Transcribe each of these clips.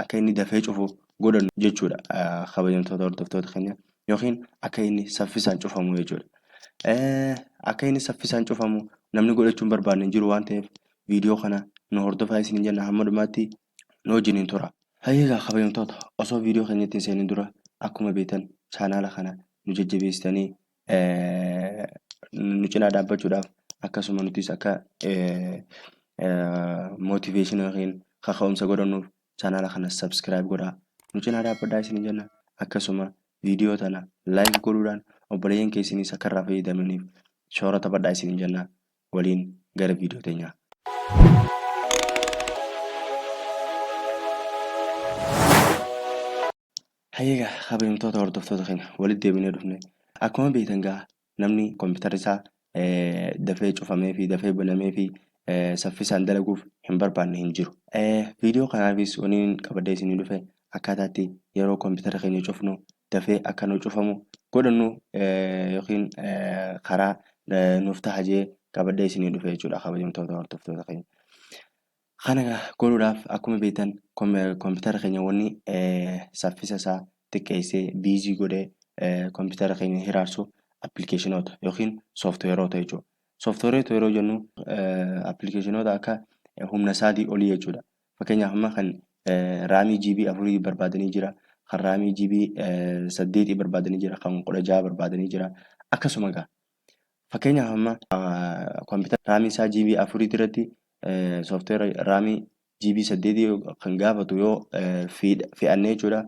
akka inni dafee cufu godhannu jechuudha kabajamtoota hordoftoota keenya yookiin akka inni saffisaan cufamu jechuudha. Akka inni saffisaan cufamu namni godhachuun barbaadne hin jiru waan ta'eef viidiyoo kana nu hordofaa isin hin jenna hamma dhumaatti nu wajjin hin tura. Hayyeegaa kabajamtoota osoo viidiyoo keenyatti hin seenin dura akkuma beektan chaanaala kana nu jajjabeessitanii nu cinaa dhaabbachuudhaaf akkasuma nutis akka motivation yookiin kaka'umsa godhannuuf chaanaala kana subscribe godhaa nu cinaa dhaabbadhaa isin jenna akkasuma viidiyoo tana like godhuudhaan obboleeyyan keessaniis akka irraa fayyadamaniif shoora taphadhaa isin jenna waliin gara viidiyoo teenyaa. Hayyee egaa kabajamtoota hordoftoota keenya walitti deebinee dhufne akkuma beektan egaa namni kompiitarri isaa dafee cufamee fi dafee banamee fi saffisaan dalaguuf hin barbaanne hin jiru. Viidiyoo kanaafis waniin qabadee isinii dhufe akkaataa itti yeroo kompiitara keenya cufnu dafee akka nu cufamu godhannu yookiin karaa nuuf taha jee qabadee isinii dhufe jechuudha kabajamtoota hordoftoota keenya. Kana egaa godhuudhaaf akkuma beektan kompiitara keenya wanni saffisa isaa xiqqeessee biizii godhee kompiitara keenya hiraarsu appilikeeshinoota yookiin sooftiweeroota jechuudha. Sooftiweeroota yeroo jennu appilikeeshinoota akka humna isaatii olii jechuudha. Fakkeenyaaf amma kan raamii GB afurii barbaadanii jira. Kan raamii GB saddeetii barbaadanii jira. Kan kudha jaha barbaadanii jira. Akkasuma egaa Fakkeenyaaf amma kompiitara raamii isaa GB afurii irratti soofteera raamii GB saddeetii kan gaafatu yoo fe'annee jechuudha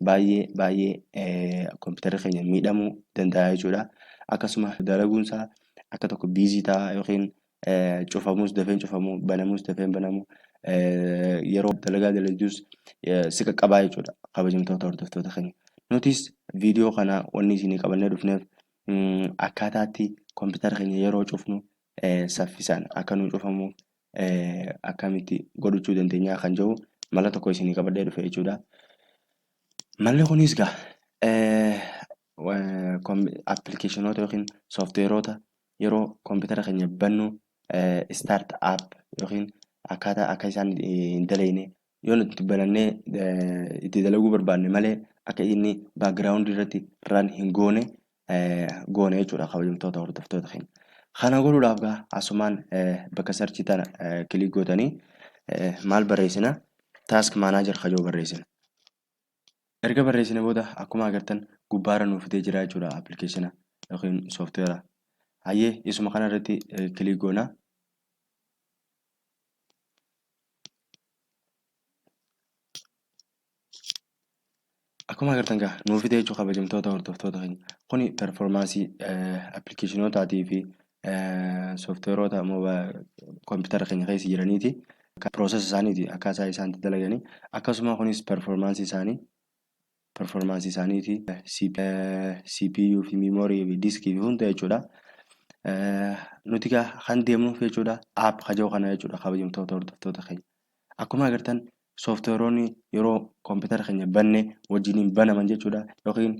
baay'ee baay'ee kompiitarri keenya miidhamuu danda'a jechuudha. Akkasuma dalaguun isaa akka tokko biizii ta'a yookiin cufamuus dafeen cufamu banamuus dafeen banamu yeroo dalagaa dalagduus si qaqqabaa jechuudha kabajamtoota hordoftoota keenya. Nutis viidiyoo kana wanni isinii qabannee dhufneef akkaataa itti kompiitara keenya yeroo cufnu saffisaan akka nu cufamu akkamitti godhachuu dandeenya kan jedhu mala tokko isinii qabadhee dhufe jechuudha. Malli kunis gaa appilikeeshinoota yookiin sooftiweeroota yeroo kompiitara keenya bannu istaart app yookiin akkaataa akka isaan hin daleeyne yoo nuti banannee eh, itti dalaguu barbaanne malee akka inni background irratti run hin goone eh, goone jechuudha kabajamtoota hordoftoota keenya. Kana godhuudhaaf gaa asumaan eh, bakka sarchii tana eh, kilik gootanii eh, maal barreessina task manager kajoo barreessina. erga barreessine booda akkuma agartan gubbaarra nuuf fidee jira jechuudha appilikeeshina yookiin sooftiweera. Hayyee isuma kana irratti kiliik goona. Akkuma agartan gaa nuuf fidee jechuudha kabajamtoota hordoftoota keenya. Kuni performaansii appilikeeshinootaa fi sooftiweeroota kompiitara keenya keessa jiraniiti. Piroosesa isaaniiti akkaataa isaan itti dalaganii akkasuma kunis performaansii isaanii performaansii isaaniiti CPU fi memory fi disk fi hunda jechuudha. Nuti kan deemnuuf jechuudha app kajoo kana jechuudha kabajamtoota hordoftoota keenya. Akkuma agartan sooftiweeroonni yeroo kompiitara keenya banne wajjiniin banaman jechuudha. Yookiin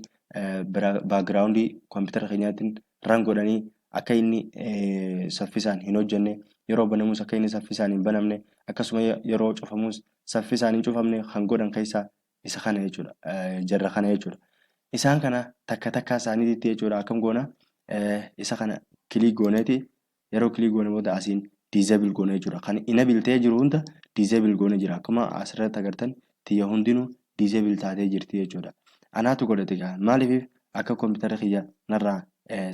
baakgiraawundii kompiitara keenyaatiin ran godhanii akka inni saffisaan hin hojjenne, yeroo banamus akka inni saffisaan hin banamne, akkasuma yeroo cufamus saffisaan hin cufamne kan godhan keessaa isa kana jechuudha. Jarra kana jechuudha. Isaan kana takka takkaa isaaniitti jechuudha akkam goona isa kana kiliik gooneeti Yeroo click goone booda asiin disable goone jechuudha. Kan enable ta'ee jiru hunda disable goone jira. Akkuma asirratti agartan tiyya hundinuu disable taatee jirti jechuudha. Anaatu godhate gaa maaliif akka kompiitara kiyya narraa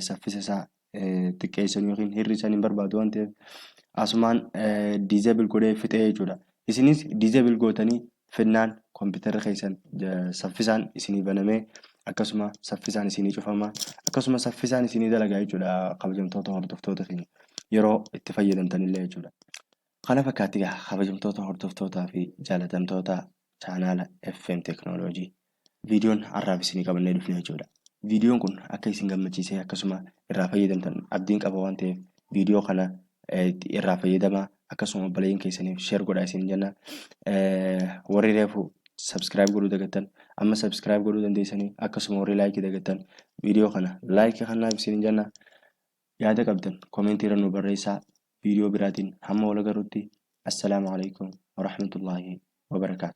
saffisa isaa xiqqeessan yookiin hir'isan hin barbaadu waan ta'eef asumaan disable godhee fixee jechuudha. Isinis disable gootanii fennaan kompitarri keessan saffisaan isinii banamee akkasuma saffisaan isinii cufama akkasuma saffisaan isinii dalagaa jechuudha kabajamtoota hordoftoota keenya yeroo itti fayyadamtanillee jechuudha. Kana fakkaatti egaa kabajamtoota hordoftootaa fi jaalatamtoota chaanaala FM Teknooloojii. viidiyoon har'aaf isinii qabannee dhufne jechuudha. Viidiyoon kun akka isin gammachiisee akkasuma irraa fayyadamtan abdiin qaba waan ta'eef viidiyoo kana irraa fayyadamaa akkasuma obboleeyyan keessaniif sheer godhaa isin jenna. Warri reefu subscribe godhuu dagattan amma subscribe godhuu dandeessanii akkasuma warri laayikii dagattan viidiyoo kana laayikii kanaaf isin jenna. Yaada qabdan koomeentii irra nu barreessaa viidiyoo biraatiin hamma wal agarrutti assalaamu alaikum warahmatullaahi wabarakaatu.